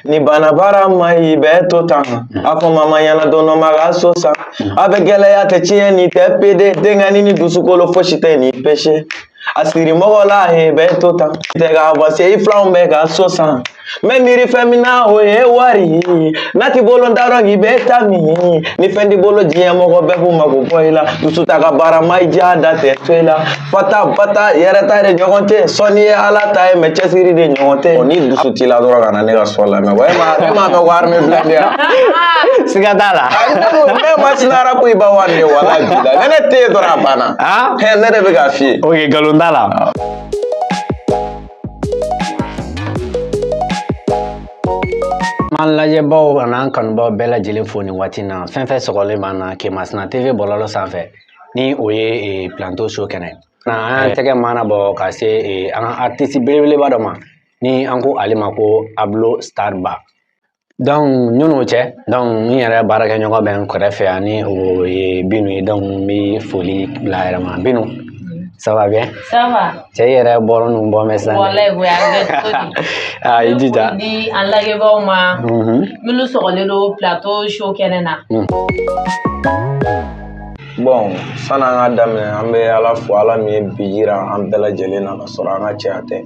n'i banna baara ma i bɛ to tan a fɔ mama ɲɛna don dɔ ma ka so san a bɛ gɛlɛya tɛ tiɲɛ ni tɛ pede denkɛni ni dusukolo fosi tɛ ni pese a siri mɔgɔ la he i bɛ to tan tɛ ka bɔse i filanw bɛ ka so san n bɛ miiri fɛn min na o ye wari ye n'a t'i bolo n t'a dɔn k'i bɛ taa min ni fɛn t'i bolo diɲɛ mɔgɔ bɛɛ b'u mako bɔ i la dusu ta ka baara ma i diya da tɛ to i la fa ta ba ta yɛrɛ ta de ɲɔgɔn tɛ sɔnni ye ala ta ye mɛ cɛsiri de ɲɔgɔn tɛ ɔ ni dusu t'i la dɔrɔn kana ne ka sɔn lamɛn wa e ma e ma ka wari min bila ne yan siga t'a la ne ma sinara ko i ba wari ye wala bi la ni ne tɛ yen dɔrɔn a banna ne de bɛ k'a f'i ye ok nkalon t'a la An lajɛbaw an'an kanubaaw bɛɛ lajɛlen fo nin waati in na fɛn fɛn sɔgɔlen b'an na Kemasina TV bɔlɔlɔ sanfɛ ni o ye eh, plateau show kɛnɛ ye an y'an tɛgɛ mana bɔ ka se eh, an ka artiste belebeleba dɔ ma ni an ko ale ma ko ablo starba donc nin n'o cɛ donc n yɛrɛ baarakɛɲɔgɔn bɛ n kɛrɛfɛ yan ni o ye binu ye donc n bɛ foli bila a yɛrɛ ma binu Ça va bien Ça va. Cɛ i yɛrɛ bɔra n'u bɔ mɛ sisan. Walayi o y'a kɛ cogo di? Aa i jija. Di an lajɛbaaw ma. Minnu sɔgɔlen don plateau show kɛnɛ na. bɔn sani an ka daminɛ an bɛ ala fo ala min ye bi jira an bɛɛ lajɛlen na ka sɔrɔ an ka cɛya tɛ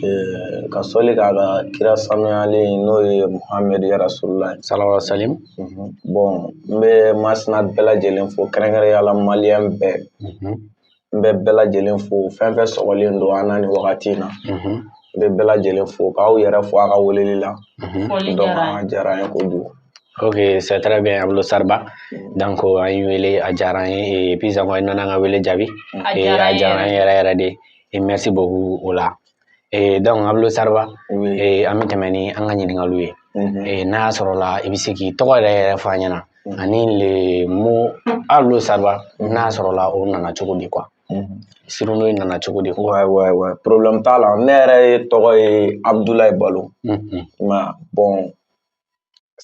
Ɛɛ, ka sɔli k'a ka kira sanuyalen n'o ye muhamɛd ya rasululahi salalahu alayi wa salam bɔn n bɛ masina bɛɛ lajɛlen fo kɛrɛnkɛrɛnya la maliyɛn bɛɛ n bɛ bɛɛ lajɛlen fo fɛn fɛn sɔgɔlen don an na nin wagati in na n bɛ bɛɛ lajɛlen fo k'aw yɛrɛ fo a ka weleli la donc a diyara an ye kojugu ok c'est très bien Ablo Starba donc an y'i wele a diyara an ye puis encore i nana an ka wele jaabi a diyara an ye yɛrɛ yɛrɛ de merci beaucoup o la ee donc ablo starba ee an bɛ tɛmɛ ni an ka ɲininkaliw ye ee n'a y'a sɔrɔ la i bɛ se k'i tɔgɔ yɛrɛ yɛrɛ fɔ an ɲɛna ani le mot ablo starba n'a y'a sɔrɔ la o nana cogo di quoi surnom in nana cogo di quoi ouais ouais problème t'a la ne yɛrɛ yɛrɛ tɔgɔ ye abdulayi balo mais bon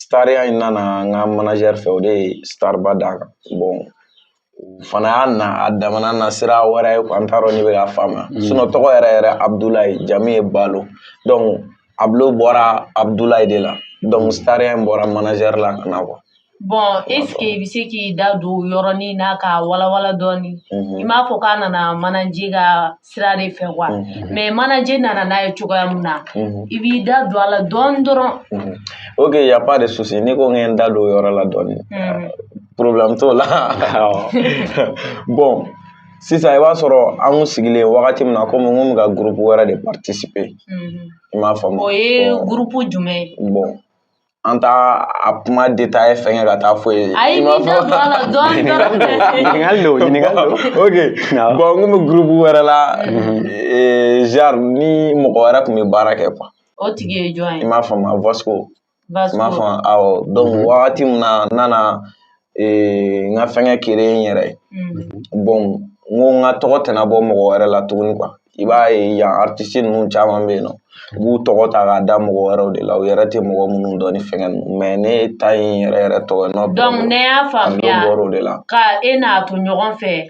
Stariya in nana n ka manager fɛ o de ye starba d'a kan bon o fana y'a na a damana na sira wɛrɛ ye n t'a dɔn n'i bɛ k'a faamuya sinon tɔgɔ yɛrɛ yɛrɛ abdulayi jamu ye balo donc ablo bɔra abdulayi de la donc stariya in bɔra manager la ka na quoi bon est-ce que i bɛ se k'i da don yɔrɔ nin na k'a walawala dɔɔni mhm. i m'a fɔ k'a nana manager ka sira de fɛ quoi mhm. mais manager nana n'a ye cogoya min na mhm. i b'i da don a la dɔɔni dɔrɔn ok y a pas de souci n'i ko n ka n da don o yɔrɔ la dɔɔni problème t'o la bon sisan i b'a sɔrɔ an kun sigilen wagati min na komi n kun bɛ ka groupe wɛrɛ de participer i m'a faamu o ye groupe jumɛn ye bon an t'a a kuma détaillé fɛngɛ ka taa fɔ yen ayi n'i da don a la dɔɔni dɔrɔn ɲininkali don ɲininkali don ok bon n kun bɛ groupe wɛrɛ la mhm. eh, genre ni mɔgɔ wɛrɛ kun bɛ baara kɛ quoi o tigi ye jɔn ye i m'a faamu a Vasco i m'a faamu awɔ donc mhm. wagati min na n nana ee, n ka fɛngɛ créer n yɛrɛ ye mm. bon n ko n ka tɔgɔ tɛna bɔ mɔgɔ wɛrɛ la tuguni quoi i b'a ye yan artiste ninnu caman bɛ yen nɔ u b'u tɔgɔ ta k'a da mɔgɔ wɛrɛw de la u yɛrɛ tɛ mɔgɔ minnu dɔn ni fɛngɛ ninnu mais ne ta ye n yɛrɛ yɛrɛ tɔgɔ ye nɔ donc ne y'a faamuya de la ka e n'a to ɲɔgɔn fɛ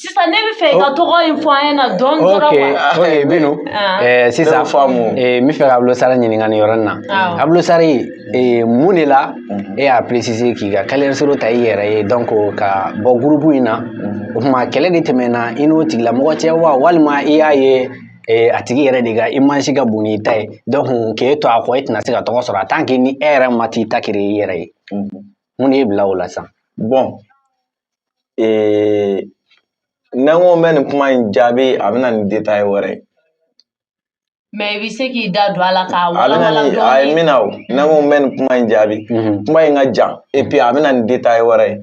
sisan ne bɛ fɛ i ka tɔgɔ in fɔ an ɲɛna dɔɔni dɔrɔn quoi ok Binu Ah. eh, sisan Ne y'o faamu. eh, n bɛ fɛ ka Ablo Star ɲininka nin yɔrɔnin na Awɔ. Ablo Star eh, mun de la e y'a préciser k'i ka carrière solo ta i yɛrɛ ye donc ka bɔ groupe in na o tuma kɛlɛ de tɛmɛna i n'o tigilamɔgɔ cɛ wa walima i y'a ye eh, a tigi yɛrɛ de ka image ka bon n'i ta ye donc k'e to a kɔ e tɛna se ka tɔgɔ sɔrɔ en tant que ni e yɛrɛ ma t'i ta créer i yɛrɛ ye mun de y'i bila o la sisan bon ee n'an ko bɛ nin kuma in jaabi a bɛ na ni détail wɛrɛ ye mais i bɛ se k'i da don a la k'a walawala a ye min na o n'an ko bɛ nin kuma in jaabi kuma in ka jan et puis a bɛ na ni détail wɛrɛ ye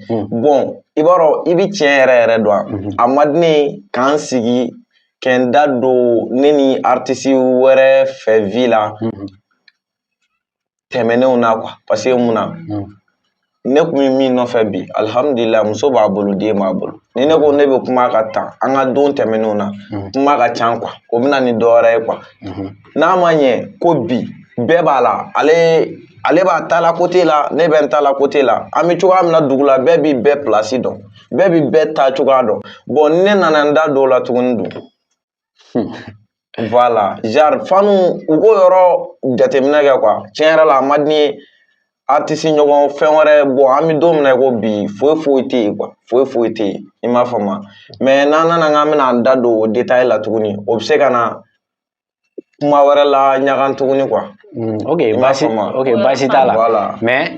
bon i b'a dɔn i bɛ tiɲɛ yɛrɛ yɛrɛ dɔn a ma di ne k'an sigi k'an da don ne ni artiste wɛrɛ fɛ vie la tɛmɛnenw na quoi parce que mun na hmm. ne kun bɛ min nɔfɛ bi alhamdulillah muso b'a bolo den b'a bolo ni ne ko ne bɛ kuma ka taa an ka don tɛmɛnenw na hmm. kuma ka can quoi o bɛna ni dɔ wɛrɛ ye quoi hmm. n'a ma ɲɛ ko bi bɛɛ b'a la ale ale b'a ta la côté la ne bɛ n ta la côté la an bɛ cogoya min na dugu la bɛɛ b'i bɛɛ place dɔn bɛɛ b'i bɛɛ ta cogoya dɔn bon ne nana n da don o la tuguni dun voilà genre fanu u k'o yɔrɔ jateminɛ kɛ quoi tiɲɛ yɛrɛ la a ma di ne ye artiste ɲɔgɔn fɛn wɛrɛ bon an bɛ don min na i ko bi foyi foyi tɛ yen quoi foyi foyi tɛ yen i m'a faamu mais n'an nana k'an bɛna an da don o détail la tuguni o bɛ se ka na kuma wɛrɛ la ɲagan tuguni quoi ok baasi ok baasi t'a la mais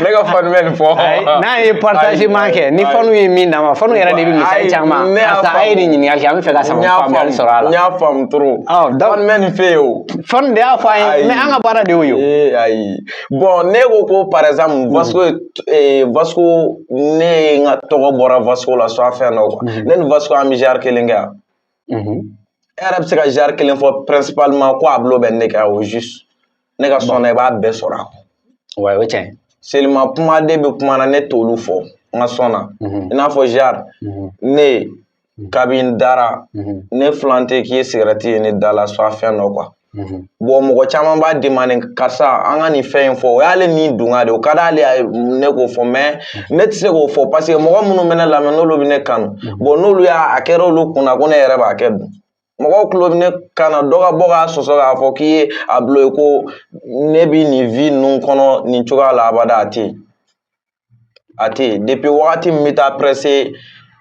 ne ka fanu bɛ nin fɔ n'a ye partagement kɛ ni fanu ye min d'a ma fanu yɛrɛ de bɛ misali caman karisa a ye nin ɲininkali kɛ an bɛ fɛ ka sama faamuyali sɔrɔ a la n y'a faamu trop fanu bɛ nin fɛ yen o fanu de y'a fɔ an ye mais an ka baara de y'o ye ee ayi bon ne ko ko par exemple hmm. vasco eh, vasco ne ye n ka tɔgɔ bɔra vasco la soit fɛn dɔ quoi hmm. ne ni vasco an bɛ genre kelen kɛ yan hmm. e yɛrɛ bɛ se ka genre kelen fɔ principalement ko Ablo bɛ nin kɛ au juste ne ka son na i b'a bɛɛ sɔrɔ a kɔnɔ ouais o ye tiɲɛ seulement kumaden bɛ kuma na ne t'olu fɔ n ka son na i n'a fɔ genre ne kabi n dara ne filan tɛ k'i ye cigarette ye ne da la soit fɛn dɔ quoi bon mɔgɔ caman b'a demander karisa an ka nin fɛn in fɔ o y'ale ni dungɔ de o ka d'ale ye ne k'o fɔ mais ne tɛ se k'o fɔ parce que mɔgɔ minnu bɛ ne lamɛn n'olu bɛ ne kanu bon n'olu y'a a kɛra olu kunna ko ne yɛrɛ b'a kɛ dun mɔgɔw tulo bɛ ne kan na dɔ ka bɔ k'a sɔsɔ k'a fɔ k'i ye Ablo ye ko ne bi nin vie ninnu kɔnɔ nin cogoya la abada a tɛ yen a tɛ yen depuis wagati min bɛ taa presse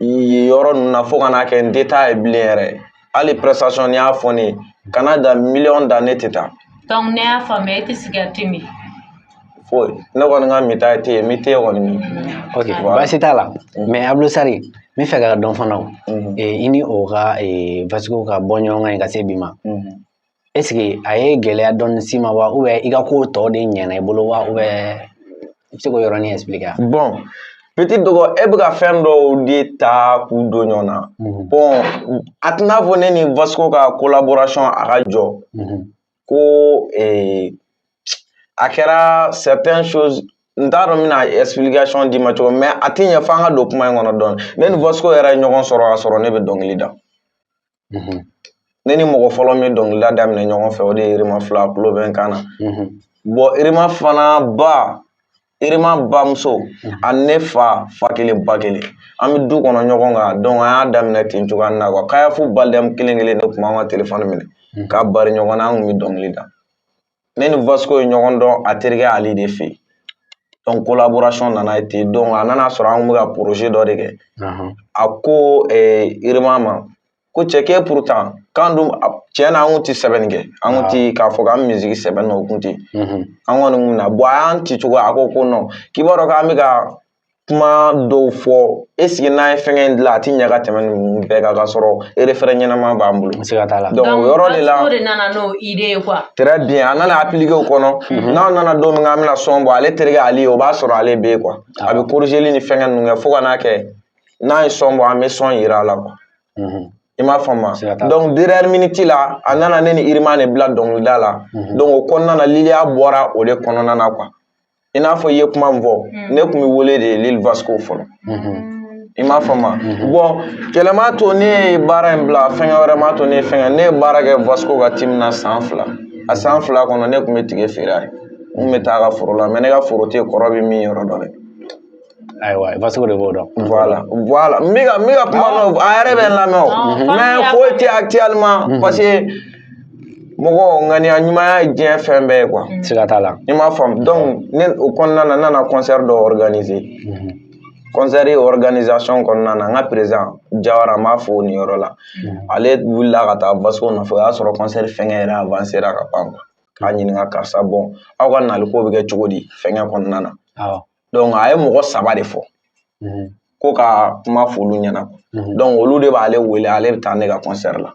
yɔrɔ ninnu na fo ka n'a kɛ n tɛ taa yen bilen yɛrɛ hali prestation n'i y'a fɔ ne ye kana da miliyɔn da ne tɛ taa. donc ne y'a faamuya e tɛ cigarette min. foyi ne kɔni ka minta tɛ yen min tɛ kɔni min ok baasi t'a la mais Ablo Sari n bɛ fɛ ka dɔn fana i ni o ka Vasco ka bɔ ɲɔgɔn kan ka se bi ma est-ce que a ye gɛlɛya dɔɔni s'i ma wa ou bien i ka ko tɔw de ɲɛna i bolo wa ou bien i bɛ se k'o yɔrɔnin expliquer yan bon petit dɔgɔ e bɛ ka fɛn dɔw de ta k'u don ɲɔgɔn na bon a tɛna fɔ ne ni Vasco ka collaboration a ka jɔ ko ee a kɛra certaines choses n t'a dɔn n bɛna explication d'i ma cogo min mais a tɛ ɲɛ fo an ka don kuma in kɔnɔ dɔɔni ne ni Vasco yɛrɛ ye ɲɔgɔn sɔrɔ k'a sɔrɔ ne bɛ dɔnkili da ne ni mɔgɔ fɔlɔ min ye dɔnkilida daminɛ ɲɔgɔn fɛ o de ye Irima Fila tulo bɛ n kan na bon Irima fana ba Irima bamuso ani ne fa fa kelen ba kelen an bɛ du kɔnɔ ɲɔgɔn kan donc an y'a daminɛ ten cogoya na quoi Kayafu Baldem kelen kelen ne tun b'an ka telefɔni minɛ hmm. k'a bari ɲɔgɔn na an tun bɛ dɔnkili da ne ni vasco ye ɲɔgɔn dɔn a terikɛ Ali de fɛ yen donc collaboration nana yen ten donc a nana sɔrɔ an tun bɛ ka projet dɔ de kɛ a ko irima ma ko cɛ k'e pourtant k'an dun tiɲɛ na an kun ti sɛbɛnni kɛ an kun ti k'a fɔ k'an musique sɛbɛn na o kun tɛ an kɔni kun na bon a y'an ci cogo a ko ko non k'i b'a dɔn k'an bɛ ka kuma dɔw fɔ est-ce que n'an ye fɛngɛ in dilan a ti ɲɛ ka tɛmɛ ninnu bɛɛ kan k'a sɔrɔ refrain ɲɛnama b'an bolo siga t'a la donc o yɔrɔ de la Vasco de nana n'o idée ye quoi très bien a nana appliquer o kɔnɔ mhm. n'an nana don min k'an bɛna son bɔ ale terikɛ Ali o b'a sɔrɔ ale bɛ yen quoi a bɛ corrigeli ni fɛngɛ ninnu kɛ fo ka n'a kɛ n'an ye son bɔ an bɛ son yira a la quoi i m'a faamu donc dernière minute la a nana ne ni irima de bila dɔnkilida la donc o kɔnɔna na liliya bɔra o de kɔnɔna na quoi i n'a fɔ i ye kuma min fɔ ne tun bɛ wele de Lil vasco fɔlɔ i m'a faamu bon kɛlɛ m'a to ne ye baara in bila fɛn wɛrɛ m'a to ne fɛn ne ye baara kɛ vasco ka team na san fila a san fila kɔnɔ ne tun bɛ ticket feere a ye n bɛ taa a ka foro la mais ne ka foro te kɔrɔ bɛ min yɔrɔ dɔ dɛ ayiwa Vasco de b'o dɔn. Voilà voilà n bɛ ka n bɛ ka kuma n'o a yɛrɛ bɛ n lamɛn o mais foyi tɛ actuellement parce que mɔgɔ ŋaniya ɲumanya ye diɲɛ fɛn bɛɛ ye quoi. siga t'a la. i m'a faamu donc ne o kɔnɔna na n nana concert dɔ organiser. concert organisation kɔnɔna na n ka président Jawara n b'a fo nin yɔrɔ la ale wulila ka taa Vasco nɔfɛ o y'a sɔrɔ concert fɛngɛ yɛrɛ avancéra ka ban quoi. k'a ɲininka karisa bon aw ka naliko bɛ kɛ cogo di fɛngɛ kɔnɔna na. donc a ye mɔgɔ saba de fɔ ko ka kuma f'olu ɲɛna donc olu de b'ale wele ale bɛ taa ne ka concert la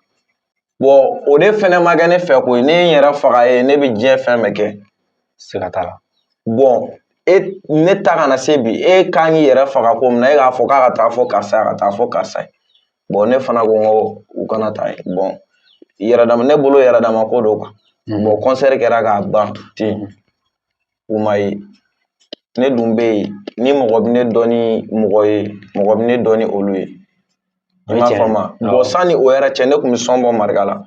bon o de fɛnɛ ma kɛ ne fɛ ko ye ne ye n yɛrɛ faga ye ne bɛ diɲɛ fɛn bɛɛ kɛ siga t'a la bon e ne ta kana se bi e kan k'i yɛrɛ faga ko min na e k'a fɔ k'a ka taa fɔ karisa ye ka taa fɔ karisa ye bon ne fana ko n ko u kana taa yen bon yɛrɛdama ne bolo yɛrɛdama ko don quoi bon concert kɛra ka ban ten u ma ye ne dun bɛ yen ni mɔgɔ bɛ ne dɔn ni mɔgɔ ye mɔgɔ bɛ ne dɔn ni olu ye i m'a faamu bon sanni o yɛrɛ cɛ ne tun bɛ son bɔ marika la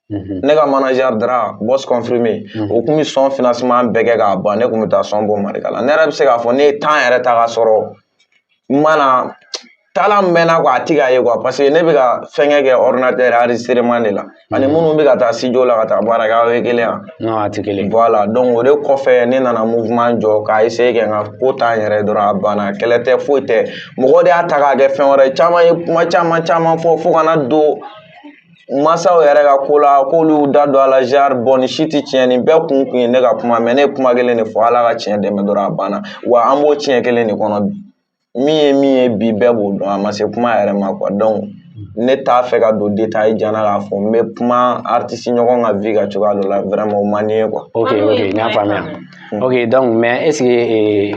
mhm. ne ka manager Dra boss confirmé mhm. o tun bɛ son financement bɛɛ kɛ k'a ban ne tun bɛ taa son bɔ marika la ne yɛrɛ bɛ se k'a fɔ ne ye temps yɛrɛ ta k'a sɔrɔ n mana talent min bɛ n na quoi a tɛ k'a ye quoi parce que ne bɛ ka fɛnkɛ kɛ ordinateur enregistrement de la ani mhm. minnu bɛ ka taa studio la ka taa baara kɛ aw ye kelen ye wa non a tɛ kelen voilà donc o de kɔfɛ ne nana mouvement jɔ k'a essayer kɛ n ka ko ta n yɛrɛ dɔrɔn a banna kɛlɛ tɛ foyi tɛ mɔgɔ de y'a ta k'a kɛ fɛn wɛrɛ caman ye kuma caman caman fɔ fo ka na don mansaw yɛrɛ ka ko la k'olu da don a la genre bon nin si tɛ tiɲɛ nin bɛɛ kun kun ye ne ka kuma mais ne ye kuma kelen de fɔ ala ka tiɲɛ dɛmɛ dɔrɔn a banna wa an b'o tiɲɛ kelen de kɔnɔ bi min ye min ye bi bɛɛ b'o dɔn a ma se kuma yɛrɛ ma quoi donc ne t'a fɛ ka don détail jan na k'a fɔ n bɛ kuma artiste ɲɔgɔn ka vie ka cogoya dɔ la vraiment o man di n ye quoi. ok ok n y'a faamuya ok donc mais est ce que ee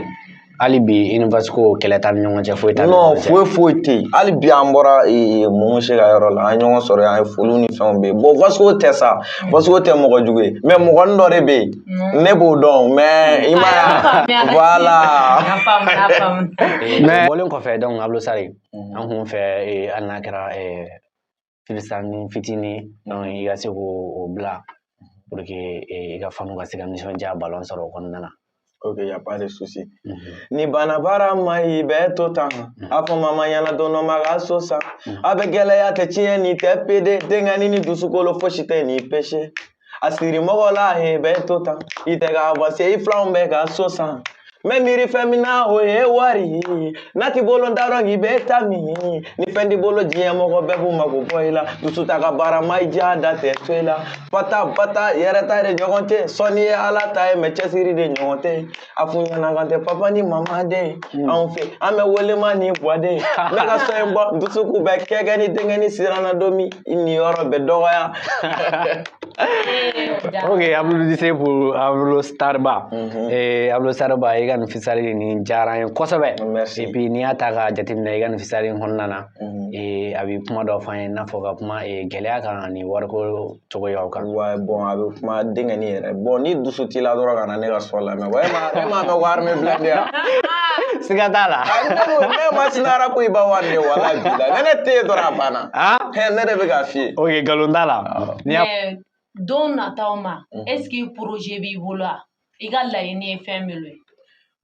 hali bi i ni vasco kɛlɛ t'an ni ɲɔgɔn cɛ foyi t'an ni ɲɔgɔn cɛ foyi foyi tɛ yen hali bi an bɔra e, e, Momo se ka yɔrɔ la an ye ɲɔgɔn sɔrɔ an ye foliw ni fɛnw bɛ yen bon vasco tɛ sa vasco tɛ mɔgɔ jugu ye mais mɔgɔnin dɔ de bɛ yen mm. ne b'o dɔn mais i m'a ye voilà mais bɔlen kɔfɛ donc Abdoul Sari mm. an kun fɛ hali n'a kɛra freestyle fitinin dɔ i ka se k'o bila pour que i ka fanw ka se ka nisɔndiyaba dɔ sɔrɔ o kɔnɔna na ok y a pas de souci n'i banna baara ma i bɛ to tan a fɔ mama ɲɛna don dɔ n b'a ka so san a bɛ gɛlɛya tɛ tiɲɛ ni tɛ pede denkɛni ni dusukolo fosi tɛ ni pese a siri mɔgɔ la e bɛ to tan i tɛ ka avancer i filanw bɛ ka so san n bɛ miiri fɛn min na o ye wari ye n'a t'i bolo n t'a dɔn k'i bɛ ta min ni fɛn t'i bolo diɲɛ mɔgɔ bɛɛ b'u mako bɔ i la dusu ta ka baara ma i diya da tɛ to i la fa ta ba ta yɛrɛ ta de ɲɔgɔn tɛ sɔnni ye ala ta ye mɛ cɛsiri de ɲɔgɔn tɛ a f'u ɲɛna k'an tɛ papa ni mama den hmm. anw fɛ an bɛ wele ma ni buwa den ne ka sɔn in bɔ dusuku bɛ kɛkɛ ni denkɛni siranna don min nin yɔrɔ bɛ dɔgɔya ok applaudissez pour Ablo Starba mm -hmm. eh, Ablo Starba i ka nin freestyle nin diyara n ye kosɛbɛ et puis n'i y'a ta k'a jateminɛ i ka nin freestyle in kɔnɔna na mm -hmm. eh, a bɛ kuma dɔ f'an ye i n'a fɔ ka kuma eh, gɛlɛya kan ani wariko cogoyaw kan ouais bon a bɛ kuma denkɛni yɛrɛ bon ni dusu t'i la dɔrɔn ka na ne ka sɔn lamɛn wa e m'a mɛn armée blindée yan siga t'a la ne ma sinara ko i ba wari de wala bi la ni ne tɛ yen dɔrɔn a banna ne de bɛ k'a f'i ye ok nkalon t'a la don nataw ma est ce que projet b'i bolo wa i ka laɲini ye fɛn min ye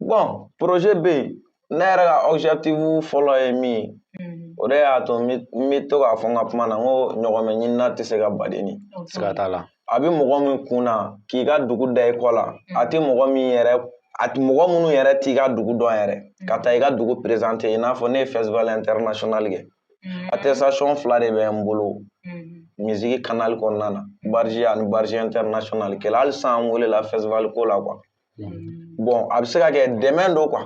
bon projet bɛ yen ne yɛrɛ ka objectif fɔlɔ ye min ye mm-hmm. o de y'a to n bɛ to k'a fɔ n ka kuma na n ko ɲɔgɔmɛ ɲinina tɛ se ka baden ni siga t'a la a bɛ mɔgɔ min kun na k'i ka dugu da i kɔ la mm-hmm. a tɛ mɔgɔ min yɛrɛ a mɔgɔ minnu yɛrɛ t'i ka dugu dɔn yɛrɛ ka taa i ka dugu présenter i n'a fɔ ne ye festival international kɛ Mm-hmm. attestation fila de bɛ n bolo mm-hmm. misiki kanali kɔnɔna na barji ani barji international kɛla hali sisan an welela festival ko la quoi mm-hmm. bon a bɛ se ka kɛ dɛmɛ don quoi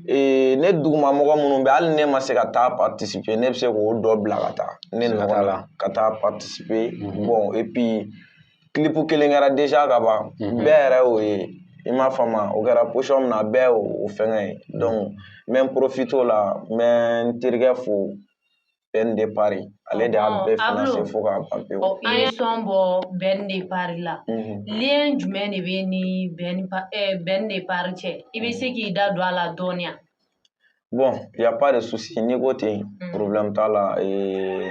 ee ne duguma mɔgɔ minnu bɛ hali ne ma se ka taa participer ne bɛ se k'o dɔ bila ka taa ne nɔgɔ la ka taa participer bon et puis clip kelen kɛra déjà ka ban mhm. bɛɛ yɛrɛ y'o ye i m'a faamu o kɛra position min na bɛɛ y'o fɛngɛ ye donc n bɛ n profiter o la n bɛ n terikɛ fo Ben de Paris ale de y'a bɛɛ financer fo k'a ban pewu an ye sɔn bɔ Ben de Paris la mhm. lien jumɛn de b'i ni Ben de Paris cɛ i bɛ se k'i da don a la dɔɔni wa bɔn yaba de susi n'i ko ten porobibilen t'a la ee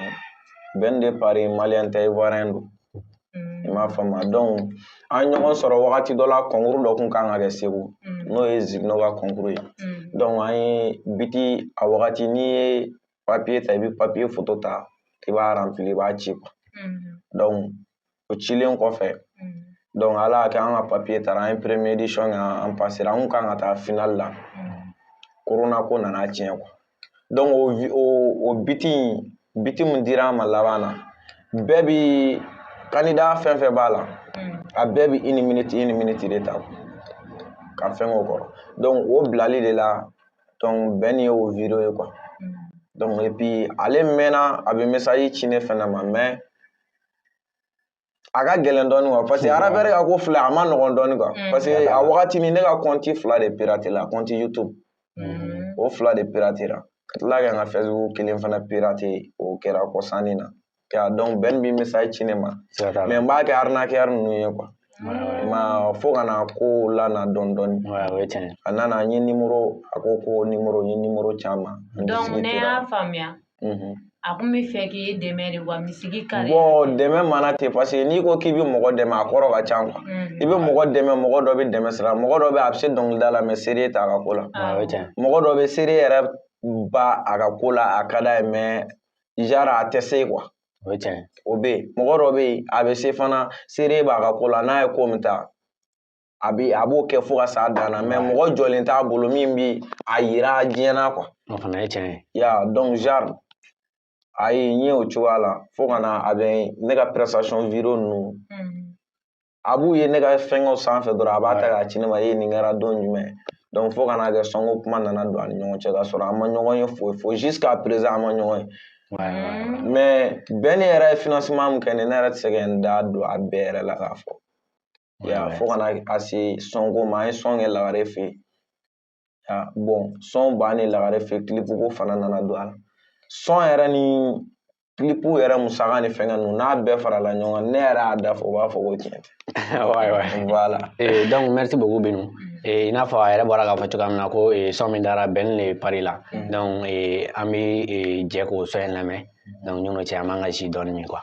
bɛn de pa mali ta ye wara in don i m'a fa ma dɔn an ɲɔgɔn sɔrɔ wagati dɔ la kɔnkururo dɔ tun kan ka kɛ segu n'o ye z ka kɔnkururo ye dɔn an ye biti a wagati n'i ye papiye ta i bɛ papiye fu ta i b'afi i b'a ci kuwa dɔn o cilen kɔfɛ donc ala y'a kɛ an ka papier taara an ye première édition kɛ an pasera an kun kan ka taa finale la corona ko nana tiɲɛ quoi donc o o o biti in biti min dira an ma laban na bɛɛ bi candidat fɛn fɛn b'a la a bɛɛ bi une minute une minute de ta ka fɛn k'o kɔrɔ donc o bilali de la donc ben ni ye o vidéo ye quoi donc et puis ale mɛnna a bɛ message ci ne fana ma mais a ka gɛlɛn dɔɔnin quoi parce que arabɛri ka ko filɛ a man nɔgɔn dɔɔnin quoi mm. parce que a wagati ni ne ka compte fila de piratela compte youtube mm. o fila de piratela ka tila ka n ka facebook kelen fana pirate o kɛra kɔsanni na donc ben bi message ci ne ma mais n b'a kɛ arnaqueur ninnu ye quoi ma fo ka na ko lana dɔɔni dɔɔni a nana n ye nimoro a ko ko nimoro n ye nimoro caman donc ne y'a faamuya Mhm. a kun b'a fɛ k'e dɛmɛ de wa musique carrière bon dɛmɛ mana ten parce que n'i ko k'i bɛ mɔgɔ dɛmɛ a kɔrɔ ka ca quoi i bɛ mɔgɔ dɛmɛ mɔgɔ dɔ bɛ dɛmɛ sira mɔgɔ dɔ bɛ a bɛ se dɔnkilida la mais sérieux t'a ka ko la mɔgɔ dɔ bɛ sérieux yɛrɛ b'a ka ko la a ka d'a ye mais genre a tɛ se quoi o bɛ yen mɔgɔ dɔ bɛ yen a bɛ se fana sérieux b'a ka ko la n'a ye ko min ta a bi a b'o kɛ fo ka s'a dan na mais mɔgɔ jɔlen t'a bolo min bi a yira diɲɛ na quoi o fana ye tiɲɛ ye ya donc genre a ye n ye o cogoya la fo ka na a bɛ ne ka prestation vidéo ninnu mm. a b'u ye ne ka fɛnkɛw sanfɛ dɔrɔn a b'a ta k'a ci ne ma e nin kɛra don jumɛn donc fo ka na kɛ son ko kuma nana don an ni ɲɔgɔn cɛ k'a sɔrɔ an ma ɲɔgɔn ye foyi fo jusqu'à présent an ma ɲɔgɔn ye mm. mais ben yɛrɛ ye financement min kɛ ne ne yɛrɛ tɛ se ka n da don a bɛɛ yɛrɛ la k'a fɔ ya fo ka na se son ko ma an ye son kɛ lagare fɛ yen ya bon son bannen lagare fɛ clip ko fana nana don a la son yɛrɛ ni clip yɛrɛ musaka ni fɛngɛ ninnu n'a bɛɛ farala ɲɔgɔn kan ne yɛrɛ y'a da fɔ u b'a fɔ ko tiɲɛ tɛ voilà eh, donc merci beaucoup binu eh, i n'a fɔ a yɛrɛ bɔra k'a fɔ cogoya min na ko eh, son min dara ben le paris la mm. donc an bɛ jɛ k'o son in lamɛn donc ɲɔgɔn cɛ an b'an ka ji dɔɔni min quoi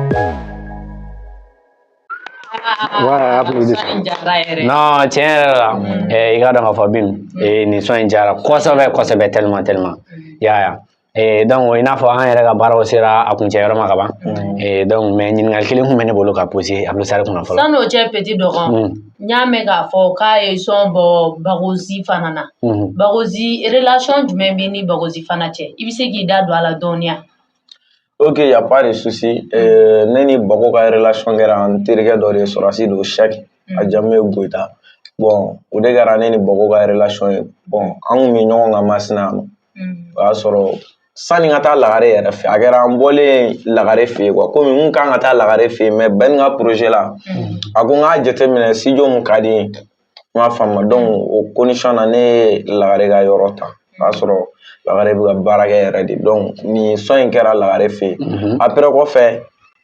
non tiɲɛ yɛrɛ la i k'a dɔn k'a fɔ binu nin son in diyara kosɛbɛ kosɛbɛ tellement tellement i y'a ye Eh, donc i n'a fɔ an yɛrɛ ka baaraw sera a kuncɛ yɔrɔ ma ka ban mm. eh, donc mais ɲininkali kelen kun bɛ ne bolo ka poser abdusari kunna fɔlɔ san'o cɛ petit dɔgɔ mm. n y'a mɛn k'a fɔ k'a ye son bɔ bagozi fana na mm-hmm. bagozi relation jumɛn b'i ni bagozi fana cɛ i bɛ se k'i da don a la dɔɔni ya Ok y a pas de souci euh, ne ni Bako ka relation kɛra n terikɛ dɔ de ye sɔrɔdasi don Sɛki a jamu ye Goyita bon o de kɛra ne ni Bako ka relation ye bon an tun bɛ ɲɔgɔn kan Masina yan nɔ o y'a sɔrɔ sani n ka taa Lagare yɛrɛ fɛ a kɛra an bɔlen Lagare fɛ yen quoi komi n tun ka kan ka taa Lagare fɛ yen mais Ben ka projet la a ko n k'a jateminɛ studio min ka di n ye N b'a faamu donc o condition na ne ye lagare ka yɔrɔ ta o y'a sɔrɔ lagare bɛ ka baara kɛ yɛrɛ de donc nin sɔn in kɛra lagare fɛ yen après kɔfɛ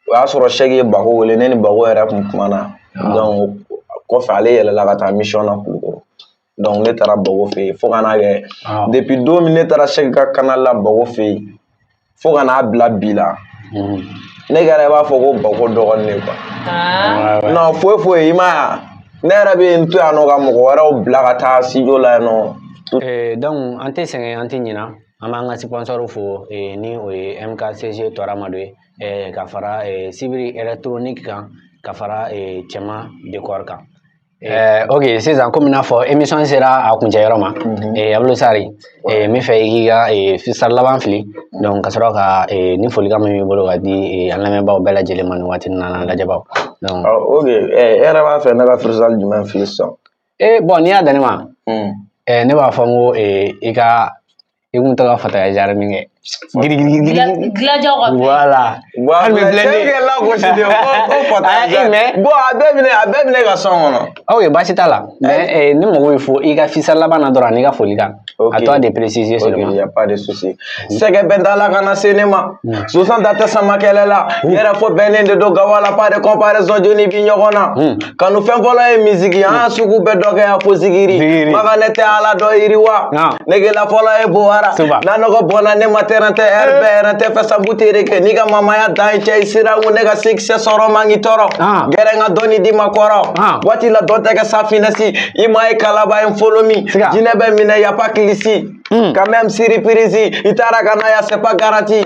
o y'a sɔrɔ sɛki ye bako wele ne ni bako yɛrɛ tun kumana donc kɔfɛ ale yɛlɛla ka taa mission na kulukɔrɔ donc ne taara bako fɛ yen fo ka n'a kɛ depuis don min ne taara sɛki ka canal la bako fɛ yen fo ka n'a bila bi la ne kɛra i b'a fɔ ko bako dɔgɔnin de quoi non foyi foyi i m'a ye ne yɛrɛ bɛ n to yan nɔ ka mɔgɔ wɛrɛw bila ka taa studio la yan nɔ eh, donc an tɛ sɛgɛn an tɛ ɲina an b'an ka sponsor fo eh, ni o ye mkcg tɔramado ye eh, ka fara sibiri électronique kan ka fara cɛman décor kan Eh, ok sisan komi n'a fɔ émission sera a kuncɛ yɔrɔ ma mhm. eh, abulu sari eh, n b'a fɛ i k'i ka eh, freestyle laban fili mhm. donc ka sɔrɔ ka eh, ni folikan min b'i bolo ka di eh, an lamɛnbaaw bɛɛ lajɛlen ma nin waati nin na n'an lajɛbaaw donc ah, ok eh, e yɛrɛ b'a fɛ ne ka freestyle jumɛn fili sisan eh, bon n'i y'a dan ne ma mm. eh, ne b'a fɔ n ko eh, i ka i kun taga fataya jara min kɛ gilajaw ka voilà wa hali bi bilen kɛ la gosi de ko ko fataya jara bon a bɛɛ bɛ ne a bɛɛ bɛ ne ka sɔn kɔnɔ ok baasi t'a la mais eh, ne mago bɛ fo i ka freestyle laban na dɔrɔn ani i ka folikan à toi de préciser seulement ok y a pas de souci mm. sɛgɛ bɛ n da la kana se ne ma mm. sonsan da tɛ sama kɛlɛ la mm. yɛrɛ fɔ bɛnnen de don gawa la pas de comparaison jɔni bi ɲɔgɔn na kanu fɛn fɔlɔ ye misiki ye a sugu bɛɛ dɔ kɛ fo zikiri maga ne tɛ ala dɔ yiriwa negela fɔlɔ ye bowara n'a nɔgɔ bɔnna ne ma tɛrɛn tɛ ɛri bɛɛ yɛrɛ tɛ fɛ sabu tere kɛ n'i ka mamaya dan ye cɛ i sira ko ne ka succès sɔrɔ man k'i tɔɔrɔ gɛrɛ n ka dɔnni di ma kɔrɔ waati la dɔ tɛ kɛ safinɛsi i ma ye kalaba ye folo min jinɛ bɛ minɛ y a pas kilisi quand même surprise i taara ka na ya c'est pas garanti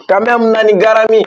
quand même nani garami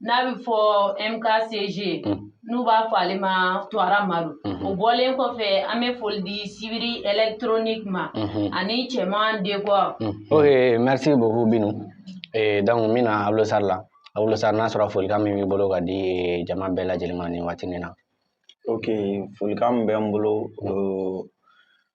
n'a bɛ fɔ MKCG n'u b'a fɔ ale ma Tuwara Madu o bɔlen kɔfɛ an bɛ foli di sibiri électronique ma ani cɛman décor. ok merci beaucoup Binu ee donc n bɛna Abulosar la Abulosar n'a sɔrɔ folikan min b'i bolo ka di jama bɛɛ lajɛlen ma nin waati nin na. ok folikan min bɛ n bolo.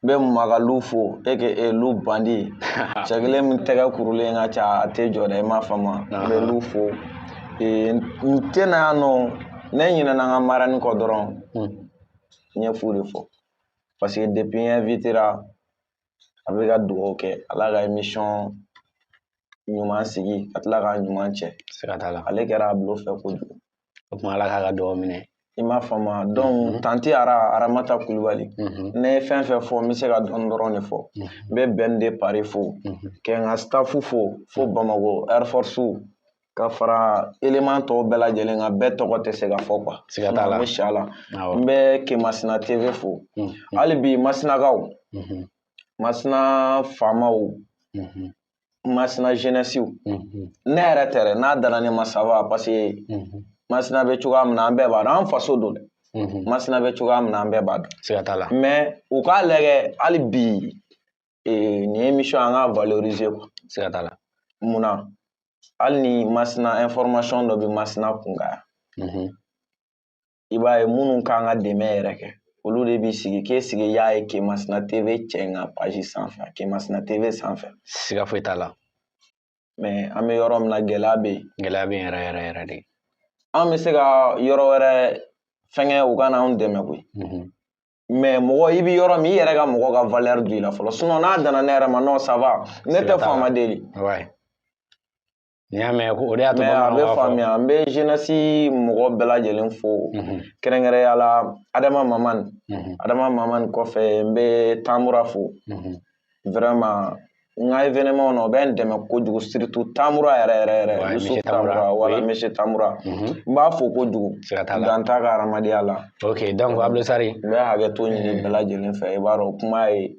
n bɛ makalu fo aka lu bandi cɛ kelen min tɛgɛ kurulen ka ca a tɛ jɔ dɛ i m'a faamu n bɛ lu fo n tɛ na yan nɔ ne ɲinɛna n ka marani kɔ dɔrɔn hmm. n ye fu de fɔ parce que depuis n invitera a bɛ ka dugawu kɛ ala ka émission ɲuman sigi ka tila k'a ɲuman cɛ siga t'a la ale kɛra abulo fɛ kojugu o tuma ala k'a ka dugawu minɛ i m'a faamu donc tante ara aramata kulubali ne ye fɛn fɛn fɔ n bɛ se ka dɔɔnin dɔrɔn de fɔ n bɛ ben de paris fo kɛ n ka staff fo fo bamakɔ air force ka fara élément tɔw bɛɛ lajɛlen kan bɛɛ tɔgɔ tɛ se ka fɔ quoi siga t'a la siya la n bɛ kemasina tv fo hali bi masinakaw masina faamaw masina jeunessew ne yɛrɛ tɛ dɛ n'a danna ne ma ça va parce que masina bɛ cogoya min na an bɛɛ b'a dɔn an faso don dɛ masina bɛ cogoya min na an bɛɛ b'a dɔn siga t'a la mais u k'a lajɛ hali bi nin émission an k'a valoriser quoi siga t'a la munna hali ni masina information dɔ bɛ masina kunkan yan i b'a ye minnu kan ka dɛmɛ yɛrɛ kɛ olu de b'i sigi k'e sigi y'a ye kemasina tv cɛ in ka page sanfɛ kemasina tv sanfɛ siga foyi t'a la mais an bɛ yɔrɔ min na gɛlɛya bɛ yen gɛlɛya bɛ yen yɛrɛ yɛrɛ yɛrɛ de an bɛ se ka yɔrɔ wɛrɛ fɛnkɛ u ka n'anw dɛmɛ koyi mhm. mais mɔgɔ i bɛ yɔrɔ min i yɛrɛ ka mɔgɔ ka valeur don i la fɔlɔ sinon n'a danna ne yɛrɛ ma non ça va ne tɛ faama deli N'i y'a mɛn ko o de y'a to bamananw b'a fɔ. Mais a bɛ faamuya n bɛ jeunesse mɔgɔ bɛɛ lajɛlen fo. Mhm. Kɛrɛnkɛrɛnya la Adama Mamani. Mhm. Adama Mamani kɔfɛ n bɛ Tambura fo. Mhm. Vraiment n ka événement na o bɛ n dɛmɛ kojugu surtout Tambura yɛrɛ yɛrɛ yɛrɛ. Ouais, Yusuf Tambura wala monsieur Tambura. N b'a fo kojugu. Siga t'a la. Dan t'a ka hadamadenya la. Ok donc Abulo Sari. N bɛ hakɛto ɲini bɛɛ lajɛlen fɛ i b'a dɔn kuma ye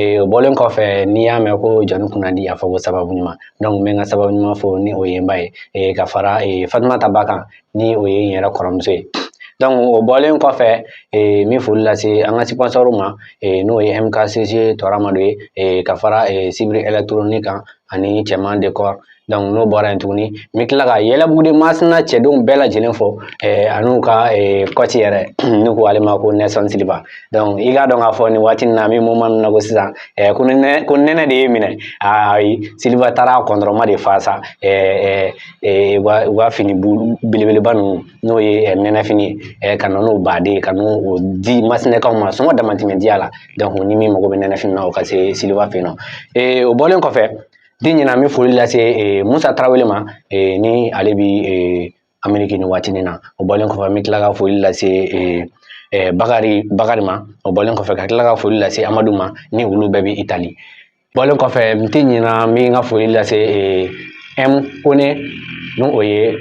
Ee o bɔlen kɔfɛ n'i y'a mɛn ko jɔnnin kunnandi a fɔ ko sababu ɲuman donc n bɛ n ka sababu ɲuman fo ni o ye n ba ye ee ka fara ee fatumata ba kan ni o ye n yɛrɛ kɔrɔmuso ye donc o bɔlen kɔfɛ ee n bɛ foli lase an ka sponsor ma ee n'o ye mkcg tɔra madu ye ee ka fara ee sibiri électronique kan ani cɛman décor n'o bɔra yen tuguni n bɛ tila ka yɛlɛbugu de masina cɛdenw bɛɛ lajɛlen fo an'u ka coach yɛrɛ n'u ko ale ma ko Nelson Silva i k'a dɔn k'a fɔ nin waati in na an bɛ moment min na ko sisan ko nɛnɛ ko nɛnɛ de ye minɛ ayi Silva taara kɔntɔrɔma de fa sa u ka u ka fini belebeleba ninnu n'o ye nɛnɛfini ye ka na n'o baden ye ka n'o di masinakaw ma sɔngɔ damatɛmɛ diya la ni min mago bɛ nɛnɛfini na o ka se Silva fɛ yen nɔ o bɔlen kɔfɛ n tɛ ɲinɛ an bɛ foli lase eh, musa tarawele ma eh, ni ale bi eh, ameriki nin waati nin na o bɔlen kɔfɛ an bɛ tila ka foli lase bakari bakari ma o bɔlen kɔfɛ ka tila ka foli lase amadu ma ni olu bɛɛ bɛ itali bɔlen kɔfɛ n tɛ ɲinɛ n bɛ n ka foli lase m kone ni o ye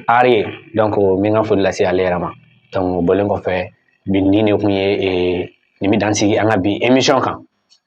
ari ye donc n bɛ n ka foli lase ale yɛrɛ ma donc o bɔlen kɔfɛ bi nin de tun ye nin bɛ dan sigi an ka bi emission kan